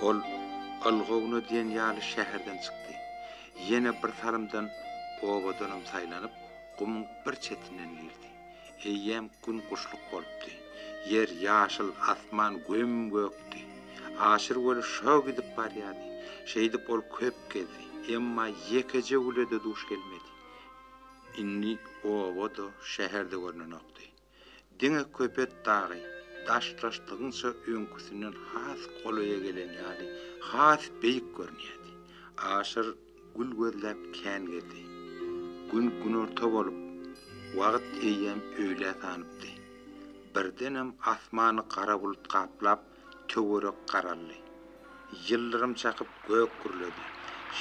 Ol ylgawuna diýen ýaly şäherden çykdy. Ýene bir salymdan obadanam saýlanyp, gumuň bir çetinden girdi. Eýýäm gün guşluk bolupdy. Ýer ýaşyl, asman göm-gökdi. Aşyr weli şo gidip barýardy. Şeýdip ol köp gezdi. Emma ýekeje güle-de duş gelmedi. Indi oba-da, şäher-de görnenokdy. Diňe Köpet dagy, daşdaşlygyňça öňküsinden has golaýa gelen ýaly, has beýik görünýärdi. Aşyr gül gözläp kän gezdi. Gün günorta bolup, wagt eýýäm öýlä sanypdy. Birdenem asmany gara bulut gaplap, Töwerek garaldy. Ýyldyrym çakyp gök gürledi.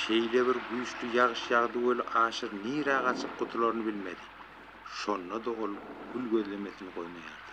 Şeýle bir güýçli ýagyş ýagdy weli Aşyr nirä gaçyp gutularyny bilmedi. Şonda-da ol gül gözlemesini goýmaýardy.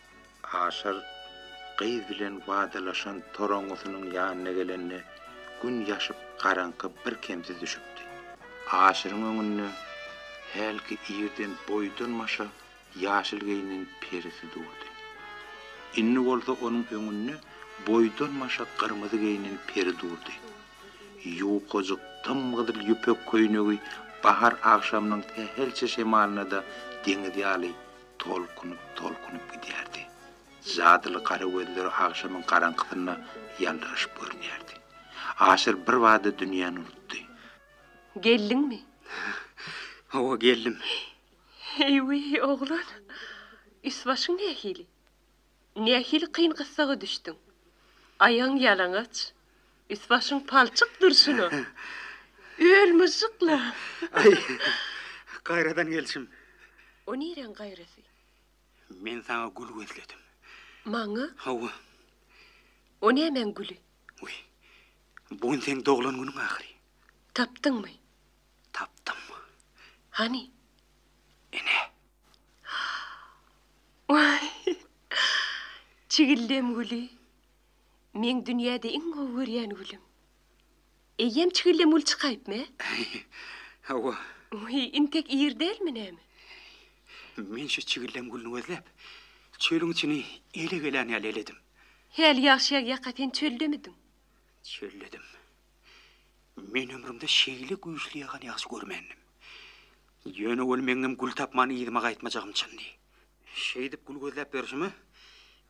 Aşyr gyz bilen wadalaşan toraňňysynyň ýanyna gelende, gün ýaşyp, garaňky birkemsiz düşüpdi. Aşyryň öňünde hälki irden boýdan-başa ýaşyl geýnen perisi durdy. Indi bolsa onuň öňünde boýdan-başa gyrmyzy geýnen peri durdy. Ýukajyk dym-gyzyl ýüpek köýnegi bahar agşamynyň sähelçe şemalyna-da deňiz ýaly Tolkunyp-tolkunyp gidýärdi. Jadyly gara gözleri agşamyň garaňkysynda ýaldyraşyp görünýärdi. Aşyr birbada dünýäni unutdy. Geldiňmi? Hawa, geldim. Eý-wi, oglan! Üst-başyň nähili? Nähili kyn gyssaga düşdüň? Aýagyň ýalaňaç, üst-başyň palçyk durşuna. Öl myžžykla! Aý, gaýradan gelşim. O nireň gaýrasy? Men saňa gül gözledim. Maňa? Hawa. O nämäň güli? Wiý, bu gün seň doglan günüň ahyry. Tapdyňmy? Tapdym. Hany? Ine. Çigildem güli meň dünýäde iň gowy görýän gülüm. Eýýäm çigildem gül çykaýypmy? Hawa. Wiý, intek ir dälmi näme? Men şu çigildem gülüni gözläp, çölüň içini ele gelän ýaly eledim. Häli ýagşy ýaga ýaka sen çöldemidiň? Çöldedim. Men ömrümde şeýle güýçli ýagan ýagşy görmändim. Ýöne ol meňňem gül tapman yzyma gaýtmajagym çyndy. Şeýdip gül gözläp ýörşüme,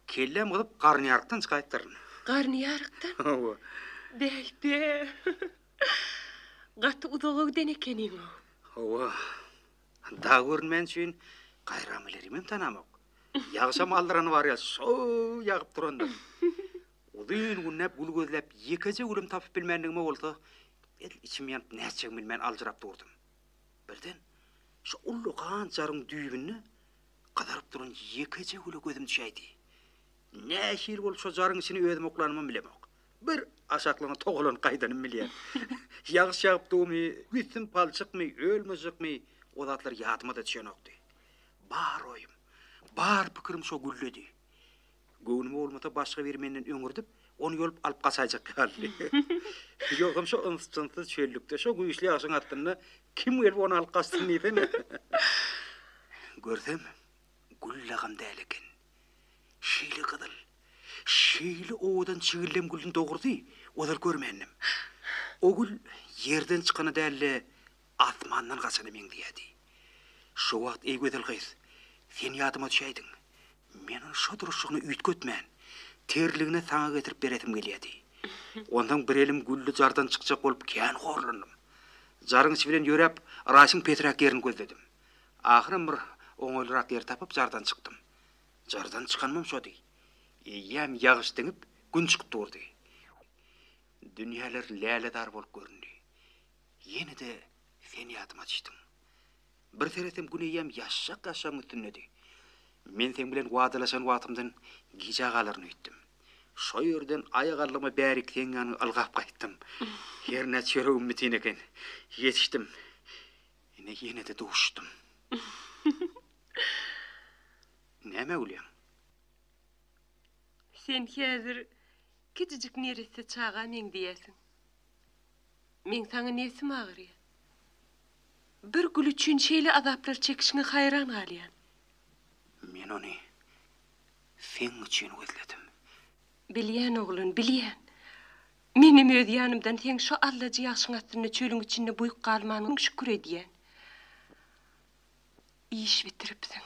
kelläm gyzyp Garnyýarykdan çykaýypdyryn. Garnyýarykdan? Hawa. Beýte. Gaty uzaga giden ekeniň-ow. Hawa. Dag görünmän üçin gaýramalerymem tanamok. Ýagşam aldyrany bar ýa, şoo ýagyp durandyr. Uzyn günläp gül gözläp ýekeje gülüm tapyp bilmändigime bolsa edil içim ýanyp nätjegimi bilmän aljyrap durdum. Birden şo ullakan jaryň düýbünde gyzaryp duran ýekeje güle gözüm düşäýdi. Nähili bolup şo jaryň içini özüm oklanymam bilemok. Bir aşaklygyna togalanyp gaýdanym bilýär. Ýagyş ýagypdygymy, üstim palçykmy, öl-myjykmy, o zatlar ýadyma-da düşenokdy. Bar oýum, bar pikirim şo güldedi. Göwnüme bolmasa başga biri menden öňürdip, ony ýolup alyp gaçaýjak ýalydy. Ýogsam şo ynjy-tynjsyz çöllükde, şo güýçli ýagşyň astynda kim gelip ony alyp gaçsyn diýsene. Görsem, gül lagam däl eken. Şeýle gyzyl, şeýle owadan çigildem gülüni dogrusy, ozal görmändim. O gül ýerden çykany däl-de, Asmandan gaçana meňzeýärdi. Şo wagt, eý gözel gyz, sen ýadyma düşäýdiň. Men ony şo durşugyna üýtgetmän, tirligine saňa getirip beresim gelýärdi. Onsoň bir elim gülli jardan çykjak bolup kän horlandym. Jaryň içi bilen ýöräp, yrasyň pesräk ýerini gözledim. Ahyram bir oňaýlyrak ýer tapyp jardan çykdym. Jardan çykanymam şody. Eýýäm ýagyş diňip, gün çykyp durdy. Dünýäler lälezar bolup göründi. Ýene-de sen ýadyma düşdüň. Bir seresem gün eýýäm ýaşşak ýaşşagyň üstündedi. Men seň bilen wadalaşan wagtymdan gijä galaryn öýtdüm. Şo ýerden aýagallygyma bärik seň ýanyňa ylgap gaýtdym. Hernä çöregim bitin eken. Ýetişdim. Ine ýene-de duşdum. Nämä gülýäň? Sen häzir kijijik neresse çaga meňzeýärsiň. Meň saňa nebsim agyrýar. Bir gül üçin şeýle azaplar çekişiňe haýran galýan. Men ony seň üçin gözledim. Bilýän, oglan, bilýän. Menem öz ýanymdan seň şu allajy ýagşyň astynda çölüň içinde buýuk galmanyň şükür edýän. Iş bitiripsiň.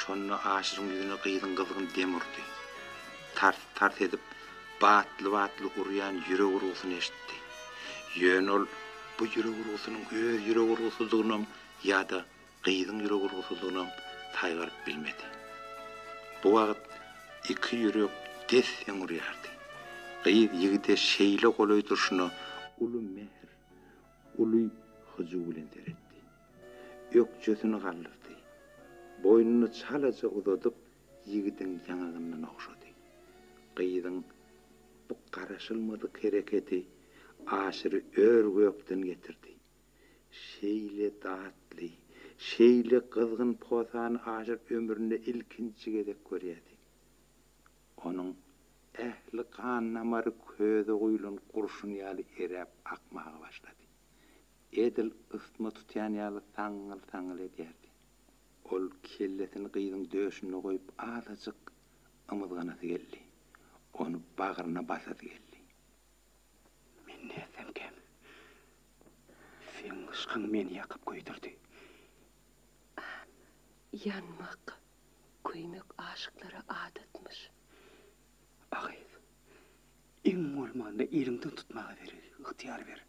Şonda Aşyryň ýüzüne gyzyň gyzgyn dem urdy. Tars-tars edip, batly-batly urýan ýürek urgusyny eşitdi. Ýöne ol bu ýürek urgusynyň öz ýürek urgusydygynam ýa-da gyzyň ýürek urgusydygynam saýgaryp bilmedi. Bu wagt iki ýürek des-deň urýardy. Gyz ýigide şeýle golaý durşuna uly mähir, uly hyjuw bilen seretdi. Ökjesini galdyrdy. Boýnuny çalaja uzadyp, ýigidiň ýaňagyndan ogşady. Gyzyň bu garaşylmadyk hereketi Aşyry ör-gökden getirdi. Şeýle datly, şeýle gyzgyn posany Aşyr ömründe ilkinji gezek görýärdi. Onuň ähli gan-damary köze guýlan gurşun ýaly eräp akmaga başlady. Edil ysma tutýan ýaly saňňyl-saňňyl edýärdi. Ol kellesini gyzyň döşünde goýup azajyk ymyzganasy geldi. Ony bagryna basasy geldi. Men nätsemkäm, seň yşkyň meni ýakyp köýdürdi. Ýanmak, köýmek aşyklara adatmyş. A gyz, Iň bolmanda eliňden tutmaga ber, ygtyýar ber.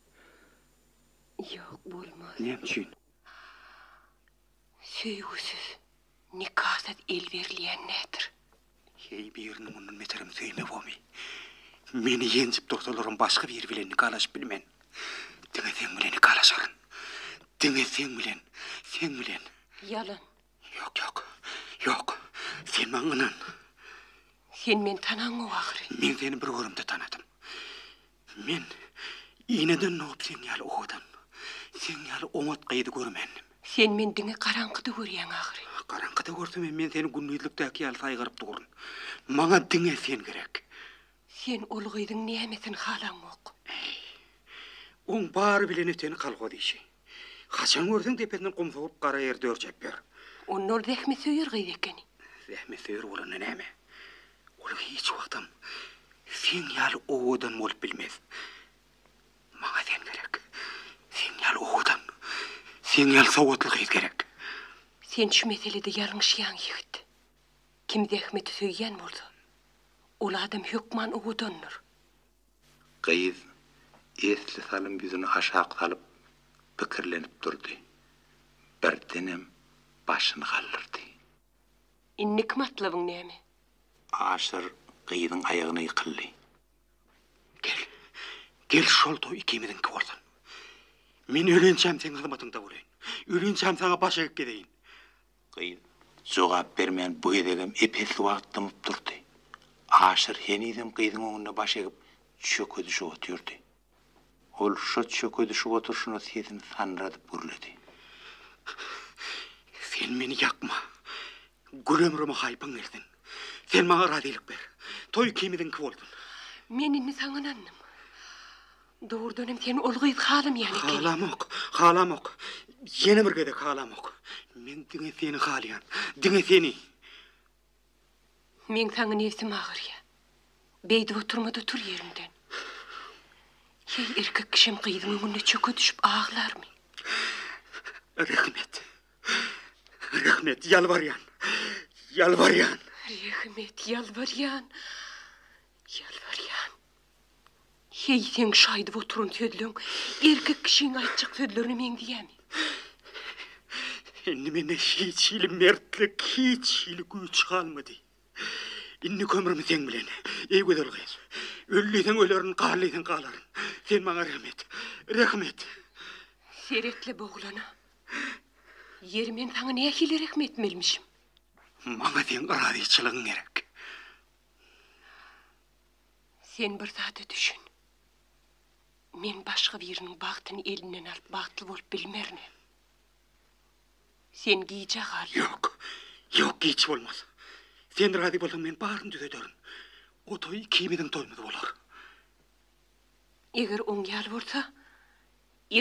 Ýok, bolmaz. Näme üçin? Söýgüsiz, nikasyz el berilýän nätdir? Heý, birini mundan beterem söýmewomy? Meni ýenjip dursalaram başga biri bilen nikalaşyp bilmen. Diňe seň bilen nikalaşaryn. Diňe seň bilen, seň bilen. Ýalan, Ýok, ýok. Ýok. Sen maňa ynan. Sen meni tanaňok ahyry. Men seni bir görümde tanadym. Men ineden dogup seň ýaly owadan, seň ýaly oňat gyzy görmändim. Sen meni diňe garaňkyda görýäň ahyry. Garaňkyda görsem hem men seni gündizlikdäki ýaly saýgaryp durun. Maňa diňe sen gerek. Sen ol gyzyň nämesini halaňok? Äý, oň bary bilen eteni kolhoz işi. Haçan görseň depesinden gum sogup gara ýer dörjäp ýör. Onda ol zähmetsöýer gyz ekeni. Zähmetsöýer bolanda näme? Ol hiç wagtam seň ýaly owadan bolup bilmez. Maňa sen gerek. Seň ýaly owadan, seň ýaly sowatly gyz gerek. Sen şu meselede ýalňyşýaň ýigit. Kim zähmeti söýýän bolsa, ol adam hökman owadandyr. Gyz esli salym ýüzüni aşak salyp, pikirlenip durdy. Birdenem başyny galdyrdy. Indiki matlabyň näme? Aşyr gyzyň aýagyna ýykyldy. Gel, gel şol toý ikimiziňki bolsun. Men ölençäm seň hyzmatyňda bolaýyn. Ölençäm saňa baş egip gezeýin. Gyz jogap bermän bu gezegem ep-esli wagt dymyp durdy. Aşyr henizem gyzyň öňünde baş egip çökezişip otyrdy. Ol şo çökezişip oturşyna sesini sanradyp gürledi. Sen meni ýakma! Gül ömrüme haýpyň gelsin! Sen maňa razylyk ber! Toý ikimiziňki bolsun! Men indi saňa ynandym. Dogrudanam sen ol gyzy halamaýan ekeniň. Halamok, halamok. Ýene bir gezek halamok. Men diňe seni halaýan. Diňe seni. Meň saňa nebsim agyrýar. Beýdip oturma-da tur ýeriňden. Heý, erkek kişem gyzyň öňünde çöke düşüp aglarmy? Rehmet. Rehmet, ýalbarýan. Ýalbarýan. Rehmet, ýalbarýan. Ýalbarýan. Heý, seň şu aýdyp oturan sözleň erkek kişiň aýtjak sözlerine meňzeýämi? Indi mende hiç hili mertlik, hiç hili güýç galmady. Indi kömrüm seň bilen, eý gözel gyz. Öl diýseň ölerin, gal diýseň galaryn. Sen maňa rehim et. Rehim et. Seret-le bu oglana. Ýeri men saňa nähili rehim etmelimişim? Maňa seň yrazyçylygyň gerek. Sen bir zada düşün. Men başga biriniň bagtyny elinden alyp bagtly bolup bilmerin. Sen gijä gal. Ýok. Ýok, giç bolmaz. Sen razy bolsaň men baryny düzederin. O toý ikimiziň toýumyz bolar. Eger oň ýaly bolsa,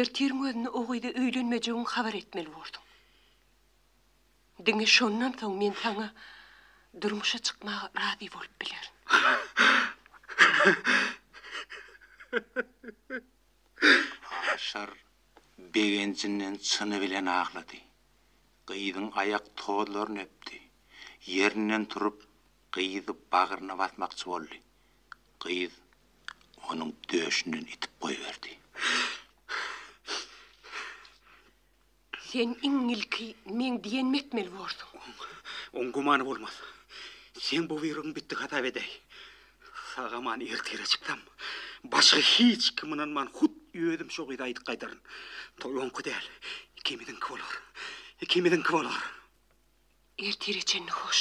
ertiriň özüne o gyza öýlenmejegiňi habar etmeli borsuň. Diňe şondan soň men saňa durmuşa çykmaga razy bolup bilerin. Aşyr begenjinden çyny bilen aglady. Gyzyň aýak tozlaryny öpdi. Ýerinden turup, gyzy bagryna basmakçy boldy. Gyz onuň döşünden itip goýberdi. Sen iň ilki meň diýenimi etmeli borsuň. Oň gümany bolmaz. Seň bu buýrugyň bitdi hasap edäý. Sag-aman ertire çyksam, başga hiç kim ynanman, hut özüm şo gyza aýdyp gaýdaryn. Toý oňky däl, ikimiziňki bolar. Ikimiziňki bolar. Ertire çenli hoş.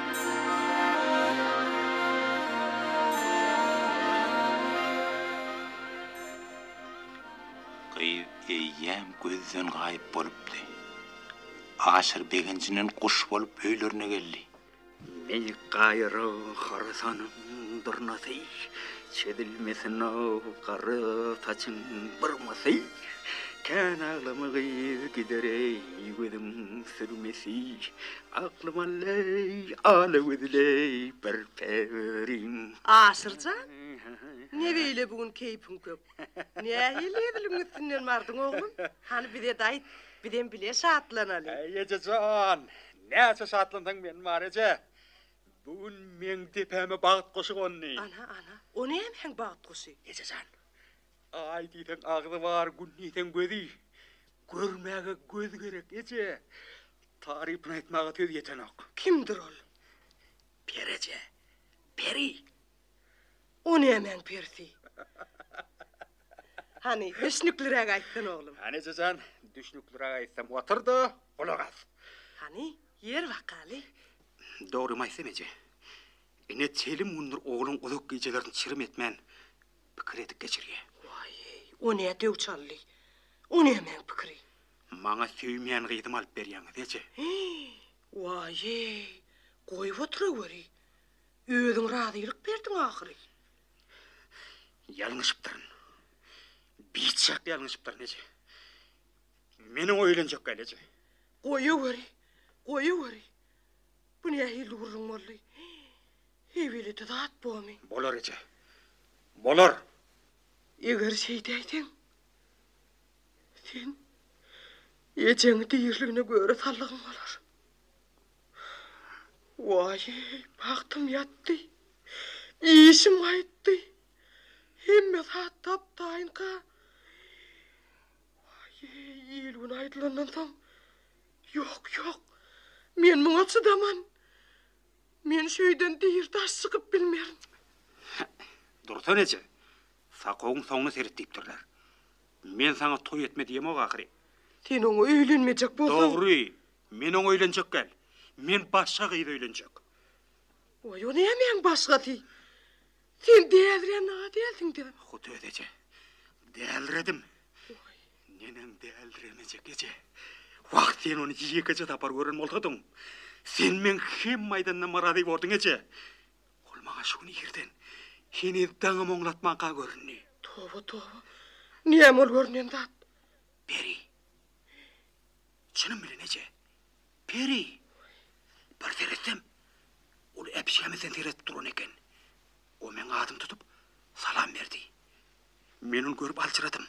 Gyz eýýäm gözden gaýyp bolupdy. Aşyr begenjinden guş bolup öýlerine geldi. Meýik gaýyrag harasanyň dyrnasy, çözülmesin-ow gara saçyň byrmasy. Kän aglama gyz gider-eý gözüň sürmesi. Aklyma leý, alagözleý bir pewerin. Aşyr jan, ne beýle bu gün keýpiň kök? Nähili ediliň üstünden bardyň oglum? Hany bize-de aýt, bizem bile şatlanaly. Äý, eje jan, näçe şatlansaň men bar, eje. Bu gün meň depäme bagt guşy gondy. Ana, ana, o nämäň bagt guşy? Eje jan, Aý diýseň agzy bar, gün diýseň gözi. Görmäge göz gerek, eje. Tarypyny aýtmaga söz ýetenok. Kimdir ol? Peri eje. Peri? O nämäň perisi? Hany, düşnükliräk aýtsana, oglum. Hany, eje jan, düşnükliräk aýtsam, otur-da, gulak as. Hany, ýer bakaly. Dogrymy aýtsam, eje, ine, telim gündür ogluň uzak gijelerini çirim etmän, pikir edip geçirýär. Waý-eý, o nä döw çaldy? O nämäň pikiri? Maňa söýmeýän gyzymy alyp berýäňiz, eje. Waý-eý, goýup oturaweri. Özüň razylyk berdiň ahyry. Ýalňyşypdyryn. Biçak ýalňyşypdyryn, eje. Meniň öýlenjek gal, eje. Goýaweri, goýaweri. Bu nähili gürrüň boldy? Ebeledi zat bomy? Bolar eje. Bolar. Eger şeýdäýseň, sen ejeňi diriligine göre sallygyň bolar. Waý, bagtym ýatdy. Işim gaýtdy. Hemme zat tap-taýynka. Waý, il-gün aýdylandan soň, ýok, ýok. Men muňa çydaman. Men şu öýden diri daş çykyp bilmerin. Dursan eje, Sakowyň soňuna seret diýipdirler. Men saňa toý etme diýemok ahyry. Sen oňa öýlenmejek bolsaň. Dogry, men oňa öýlenjek däl. Men başga gyza öýlenjek. Oý, o nämäň başgasy? Sen dälirän nag dälsiň-dä? Hut özi eje. Dälredim. Neneň däldir emejek eje. Wah, sen ony ýekeje sapar gören bolsadyň, sen meň hemme aýdanyma myrazy borduň eje. Ol maňa şu gün irden, heniz daňym oňlatmanka göründi. Toba, toba. Näme ol görnen zat? Peri. Çynym bilen eje. Peri. Bir seretsem, ol äpişgämizden seredip duran eken. O meň adymy tutup, salam berdi. Men ony görüp aljyradym.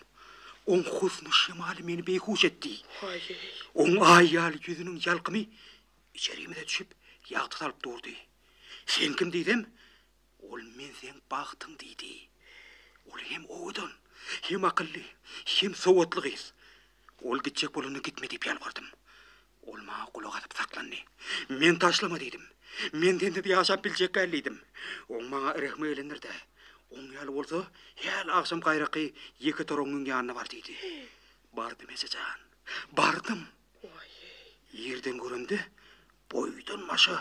Oň husny şemaly meni beýhuş etdi. Haý-eý! Oň aý ýaly ýüzüniň ýalkymy içerimize düşüp, ýagty salyp durdy. Sen kim diýsem, ol men seň bagtyň diýdi. Ol hem owadan, hem akylly, hem sowatly gyz. Ol gitjek bolanda gitme diýip ýalbardym. Ol maňa gulak asyp saklandy. Men taşlama diýdim. Men sensiz ýaşap biljek däl diýdim. Oň maňa rehmi gelendir-dä. Oň ýaly bolsa, häli agşam gaýraky ýeke toraň müň ýanyna bar diýdi. Bardym, eje jan. Bardym. Ýerden göremde, boýdan-başa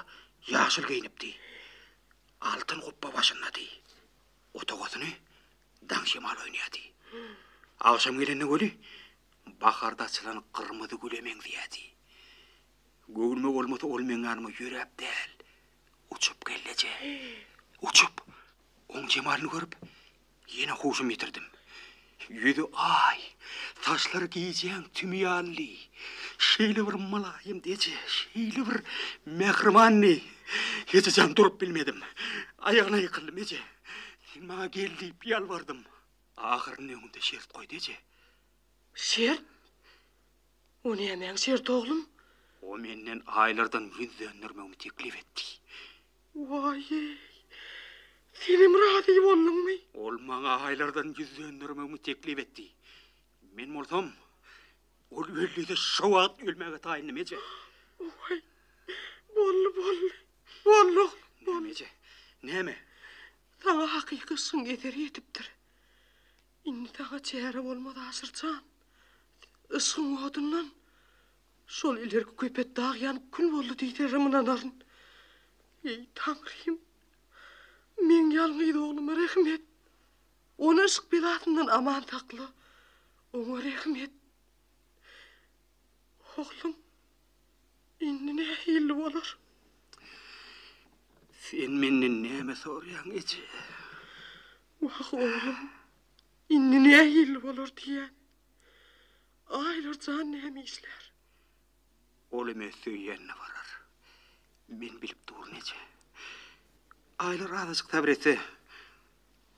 ýaşyl geýnipdi. Altyn gupba başyndady. Otagasyny Daň şemal oýnaýardy. Agşam gelende göli baharda açylan gyrmyzy güle meňzeýärdi. Göwnüme bolmasa ol meň ýanyma ýöräp däl, uçup geldeje. Uçup, oň jemalyny görüp, ýene huşumy ýitirdim. Ýüzi aý, saçlary gijäň tümi ýalydy. Şeýle bir mylaýym deje, şeýle bir mähribandy. Ejejan durup bilmedim. Aýagyna ýykyldym, Eje! Sen maňa gel diýip ýalbardym. Ahyryny öňümde şert goýdy eje. Şert? O nämäň şerti oglum? O menden aýlardan ýüz döndermegimi teklip etdi. Waý-eý! Senem razy bolduňmy? Ol maňa aýlardan ýüz döndermegimi teklip etdi. Men bolsam, Ol öldüse şo wagt ölmäge taýyndym eje. Waý! Boldy, boldy. Bolluk, bolluk. Näme eje? Näme? Saňa hakyky yşgyň eser ýetipdir. Indi saňa çäre bolmaz Aşyr jan. Yşgyň odundan şol ilerki köpet dag ýanyp kül boldy diýserim ynanaryn. Eý, Taňrym! Meň ýalňyz ogluma rehim et. Ony yşk belasyndan aman sakla. Oňa rehim et. Oglum, indi nähilli bolar? Sen menden näme soraýaň, eje? Wah, oglum, indi nähilli bolar diýýän. Aýlar jan näme işlär? Ol hem öz söýýänine barar. Men bilip durun, eje. Aýlar azajyk sabyr etse,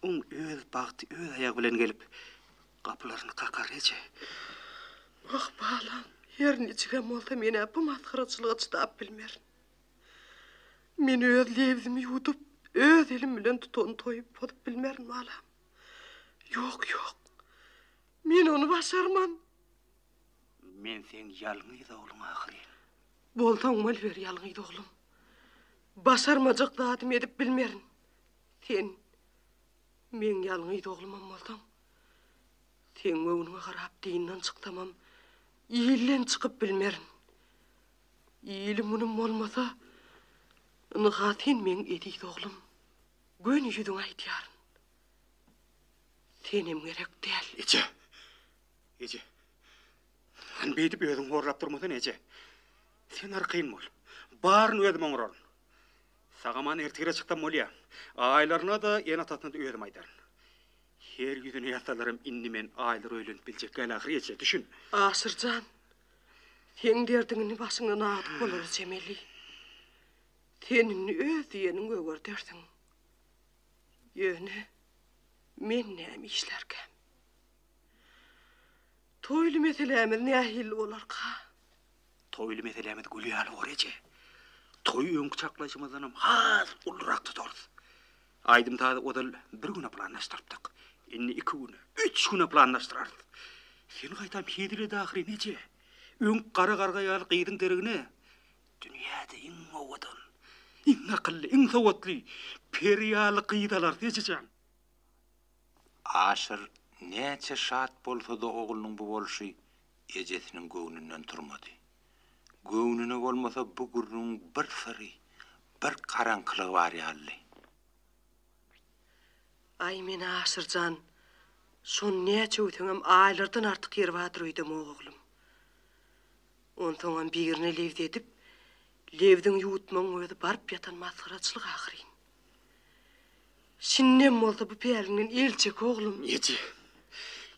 Oň öz bagty öz aýagy bilen gelip, gapylaryny kakar eje. Oh, balam, her niçigem bolsa men-ä bu masgaraçylyga çydap bilmerin. Men öz lebzimi ýuwdup, öz elim bilen tutan toýy pozup bilmerin, balam. Ýok, ýok. Men ony başarman. Men seň ýalňyz ogluň ahyryn. Bolsaň boluber ýalňyz oglum. Başarmajak zadymy edip bilmerin. Sen meň ýalňyz oglumam bolsaň, seň göwnüňe garap dyndan çyksamam, ilden çykyp bilmerin. Ilim-gunum bolmasa, ynha sen meň eziz oglum, göni ýüzüňe aýdýaryn. Senem gerek däl. Eje! Eje! Hany beýdip özüň horlap durmasana, eje! Sen arkaýyn bol. Baryny özüm oňararyn. Sag-aman ertire çyksam bolýa. Aýlaryna-da, ene-atasyna-da özüm aýdaryn. Her ýüzüne ýazsalaram indi men Aýlara öýlenip biljek däl ahyry eje, düşün. Aşyr jan, seň derdiň indi başyňdan agydyp bolar eçemeli. Sen indi öz diýeniňi öwerdersiň. Ýöne men näme işlärkäm? Toýly meselämiz nähilli bolarka? Toýly meselämiz gül ýaly bor eje. Toýy öňki çaklaýşymyzdanam has ulurak tutarys. Aýdym-sazy ozal bir güne planlaşdyrypdyk. Indi iki güne, üç güne planlaşdyrarys. Sen gaýtam hezil et ahyryn eje. Öňk gara garga ýaly gyzyň deregine dünýäde iň owadan, iň akylly, iň sowatly, peri ýaly gyz alarys ejejan. Aşyr näçe şat bolsa-da oglunyň bu bolşy ejesiniň göwnünden turmady. Göwnüne bolmasa bu gürrüňiň bir syry, bir garaňkylygy bar ýalydy. Aý men Aşyr jan, şony näçöwseňem aýlardan artyk ýeri bardyr öýdemok oglum. Onsoňam birine lebz edip, lebziňi ýuwutmagyň özi baryp ýatan masgaraçylyk ahyryn. Şindem bolsa bu päliňden el çek, oglum! Eje!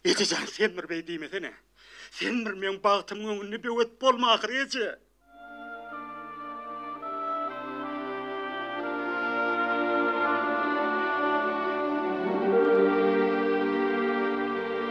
Eje jan, sen bir beý diýmesene! Sen bir meň bagtymyň öňünde böwet bolma ahyry, eje!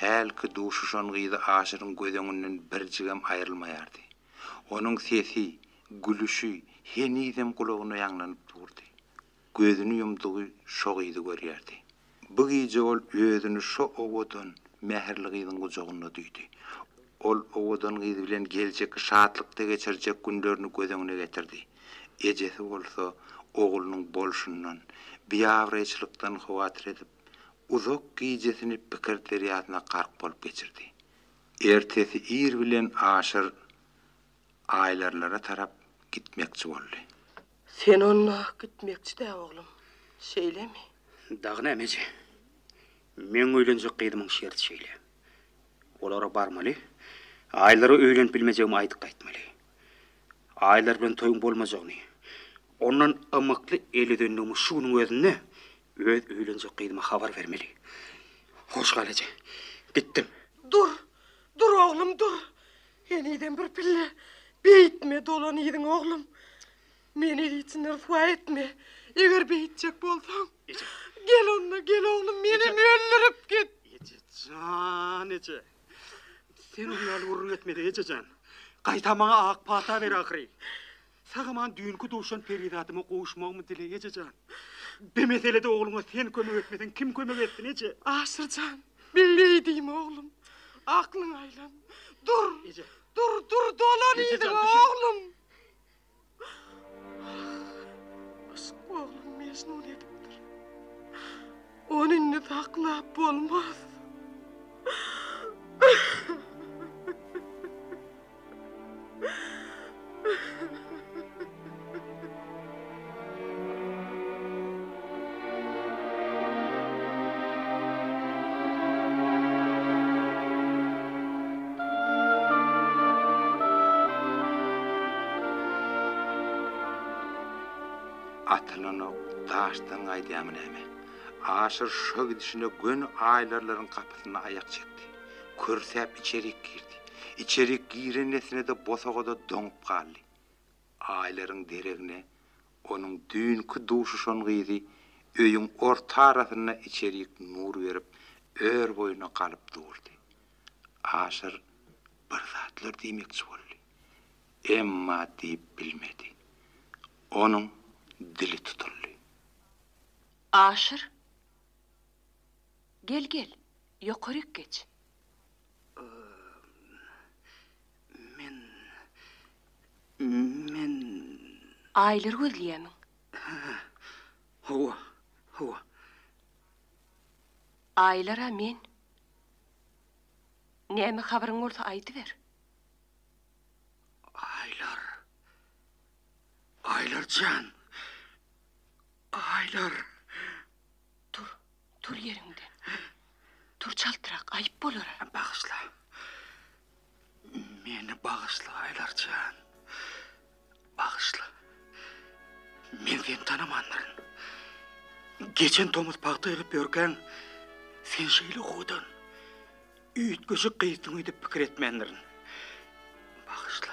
Hälki duşuşan gyzy Aşyryň göz öňünden birjigem aýrylmaýardy. Onuň sesi, gülüşi henizem gulagyna ýaňlanyp durdy. Gözüni ýumdugy şo gyzy görýärdi. Bu gije ol özüni şo owadan, mähirli gyzyň gujagynda duýdy. Ol owadan gyz bilen geljekki şatlykda geçirjek günlerini göz öňüne getirdi. Ejesi bolsa oglunyň bolşundan, biabraýçylykdan howatyr edip, uzak gijesini pikir derýasyna gark bolup geçirdi. Ertesi ir bilen Aşyr Aýlarlara tarap gitmekçi boldy. Sen onda gitmekçi-dä, oglum, şeýlemi? Dagy näme, eje. Meň öýlenjek gyzymyň şerti şeýle. Olara barmaly, Aýlara öýlenip bilmejegimi aýdyp gaýtmaly. Aýlar bilen toýuň bolmajagyny, ondan ymykly el üzendigimi şu günüň özünde öz öýlenjek gyzyma habar bermeli. Hoş gal, eje. Gitdim. Dur! Dur, oglum, dur! Henizem bir pille beýtme, dolan yzyňa, oglum. Meni el içinde ryswa etme. Eger beýtjek bolsaň, gel onda, gel, oglum, menem öldürip git! Eje jan, eje! Sen oň ýaly gürrüň etmede, ejejan. Gaýtam maňa ak pata ber ahyry. Sagaman düýnki duşan perizadyma gowuşmagymy dile, ejejan. Bi meselede ogluňa sen kömek etmeseň, kim kömek etsin, eje? Aşyrjan, beýle eýdeme, oglum. Aklyňy aýlan. Dur! Eje. Dur, dur, dolan eýdeme, oglum! Yşk oglum Mejnun edipdir. Ony indi saklap bolmaz. Atylanok, daşdan gaýdýarmy näme? Aşyr şa gidişine göni aýlarlaryň gapysynda aýak çekdi. Kürsäp içerik girdi. Içerik giren nesine-de bosagada doňup galdy. Aýlaryň deregine onuň düýnki duşuşan gyzy öýüň orta arasynda içerik nur berip, ör boýuna galyp durdy. Aşyr bir zatlar diýmekçi boldy. Emma diýip bilmedi. Onuň dili tutuldy. Aşyr! Gel-gel, ýokaryk geç. Men. Men. Aýlary gözleýämiň? Hä. Hawa. Hawa. Aýlara men. Näme habaryň bolsa aýdyber. Aýlar. Aýlar jan. Aýlar. Tur. Tur ýeriňden. Tur çaltrak, aýyp bolar. Bagyşla. Meni bagyşla, Aýlar jan. Bagyşla. Men seni tanamandyryn. Geçen tomus pagta ýylyp ýörkäň, sen şeýle howdan, üýtgeşik gyzdyň öýdüp pikir etmändirin. Bagyşla.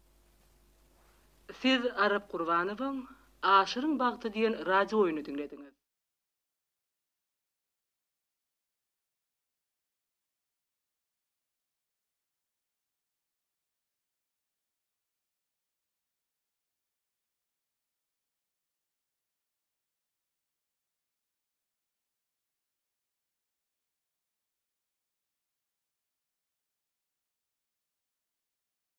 Siz Arap Gurbanowyň Aşyryň bagty diýen radio oýny diňlediňiz.